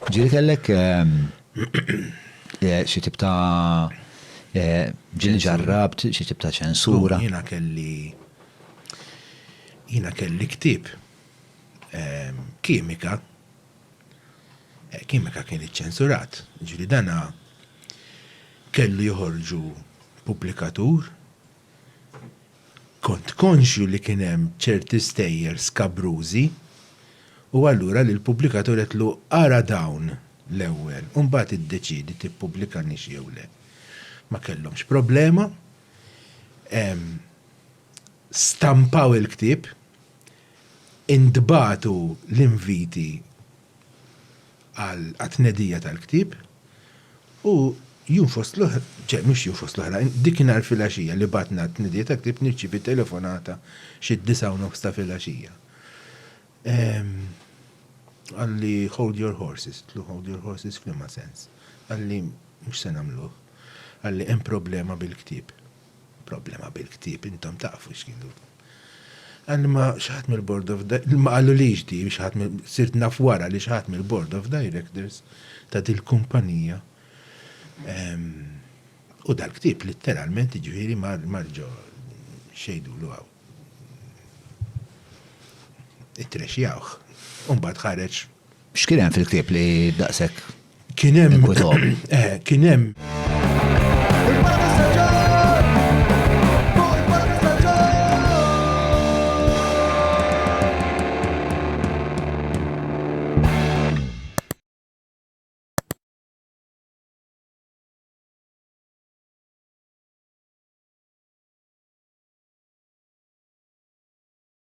Ġieli kellek xi tip ta' ġieli ġarrabt, xi tip ta' ċensura. Jiena kelli jiena kelli ktieb kimika, kimika kien iċċensurat, ġieli dana kellu joħorġu pubblikatur, Kont konxju li kien hemm ċerti stejjer skabrużi u allura lill-pubblikatur għedtlu ara dawn l-ewwel u mbagħad iddeċiedi tippubblikanix jew le. Ma kellhomx problema. Stampaw il-ktieb, intbagħtu l-inviti għat-tnedija tal-ktieb u jum fost l-oħra, ċe, mhux jum fost l-oħra, dikinhar filgħaxija li batna t-tnedija tal-ktieb nirċievi telefonata xi d-disgħa u nofs ta' filgħaxija. Qalli hold your horses, tlu hold your horses f'liema sens. Qalli mhux se nagħmluh. Qalli hemm problema bil-ktieb. Problema bil-ktieb, intom tafu x'kienu. Għalli ma xi ħadd mill-Board of Directors, ma qalulix di, xi ħadd mill- sirt naf wara li xi ħadd mill-Board of Directors ta' dil-kumpanija ehm, u dal-ktieb litteralment jiġifieri mar mar ġo x'jgħidulu hawn. Ittrexjawh. U mbagħad ħareġ X'kien hemm fil-ktieb li daqshekk Kien hemm. inkwitahom? Eh, kien hemm.